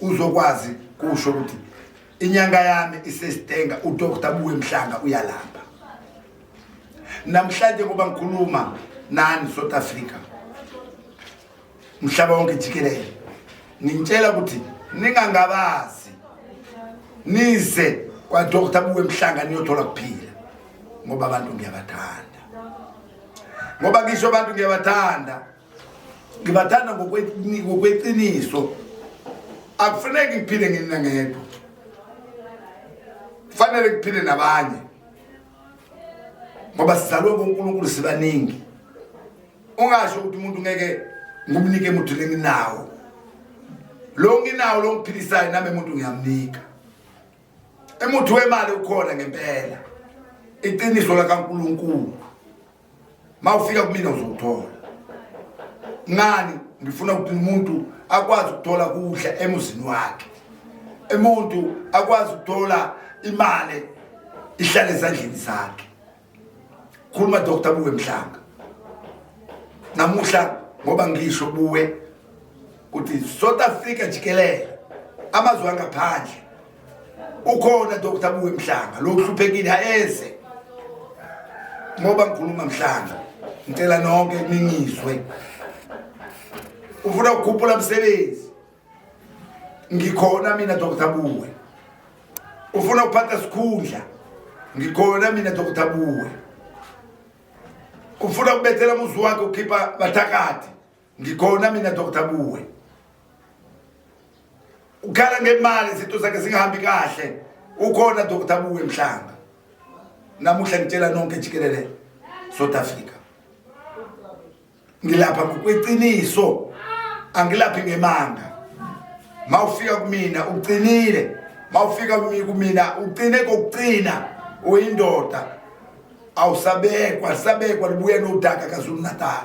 uzokwazi kusho ukuthi inyanga yami isesitenga udokta buwe mhlanga uyalamba namhlanje ngoba ngikhuluma nani south africa mhlaba wonke jikelele ngintshela ukuthi ningangabazi nize kwadokta buwe mhlanga niyothola kuphila ngoba abantu ngiyabathanda ngoba ngisho abantu ngiyabathanda ngibathanda ngokweqiniso akufuneki ngiphile nginina ngedwa kufanele ngiphile nabanye ngoba sizalwe ngonkulunkulu sibaningi ungasho ukuthi umuntu ngeke ngumnike muthu lenginawo lo nginawo lo ngiphilisayo nami muntu ngiyamnika emuthu wemali ukhona ngempela iqiniso lakankulunkulu mawufika kumina uzokuthola ngani ngifuna ukuthi umuntu akwazi ukuthola kudla emuzini wakhe umuntu akwazi ukuthola imali ihlale ezandleni zakhe khuluma dr buwe mhlanga namuhla ngoba ngisho buwe ukuthi south africa jikelele amazwe angaphandle ukhona Dr Buwe Mhlanga lo uhluphekile ayeze ngoba ngikhuluma Mhlanga ngicela nonke ningizwe ufuna ukukhuphula umsebenzi ngikhona mina Dr Buwe ufuna ukuphatha sikhundla ngikhona mina Dr Buwe ufuna ukubethela umuzi wakhe ukhipha bathakathi Ngikhona mina Dr Buwe. Ukhala ngemali izinto zakhe zingahambi kahle. Ukhona Dr Buwe mhlanga. Namuhla ngitshela nonke jikelele South Africa. Ngilapha ngokweqiniso. Angilaphi ngemanga. Mawufika kumina uqinile. Mawufika kumina uqine kokuqina uyindoda. Awusabekwa, sabekwa libuye nodaka kaZulu Natal.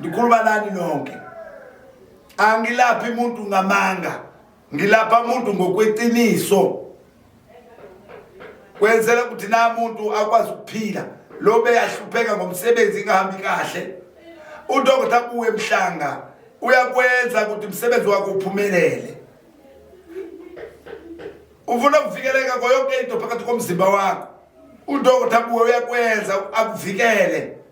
ndikhuluma nani nonke angilaphi muntu ngamanga ngilapha muntu ngokweqiniso kwenzela ukuthi na muntu akwazi ukuphila lo beyahlupheka ngomsebenzi ingahambi kahle udokotha kuwe mhlanga uyakwenza ukuthi umsebenzi wakho uphumelele ufuna ukuvikeleka koyonke into phakathi komzimba wakho udokotha kuwe uyakwenza akuvikele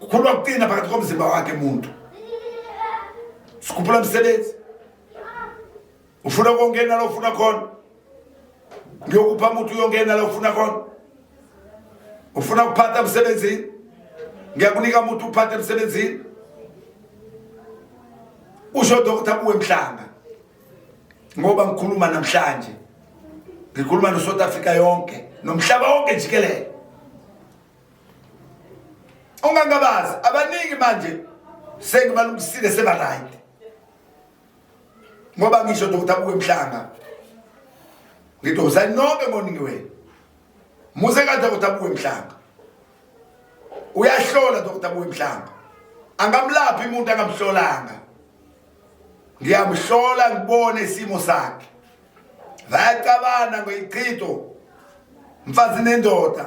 kukhuluma kuqina phakathi komzimba wakhe muntu sikhuphula msebenzi ufuna kongena la ufuna khona ngiyokupha muthi uyongena la ufuna khona ufuna kuphatha emsebenzini ngiyakunika muthi uphathe emsebenzini usho dokotha kuwe mhlanga ngoba ngikhuluma namhlanje ngikhuluma no-south africa yonke nomhlaba wonke jikelele ungangabazi abaningi manje sengibalungisile seba right ngoba ngisho dokotela buke mhlanga ngithi uzani nonke ngoningi wenu muze ka dokotela buke mhlanga uyahlola dokotela buke mhlanga angamlaphi umuntu angamhlolanga ngiyamhlola ngibone isimo sakhe vayacabana ngoyichitho mfazi nendoda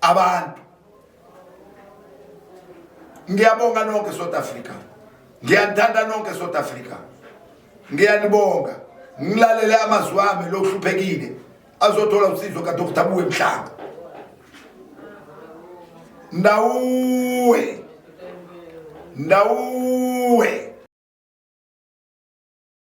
abantu ngiyabonga nonke South Africa ngiyanithanda nonke South Africa ngiyanibonga ngilalele amazwi ami lokuhluphekile azothola usizo ka Dr Buwe Mhlanga ndawuwe ndawuwe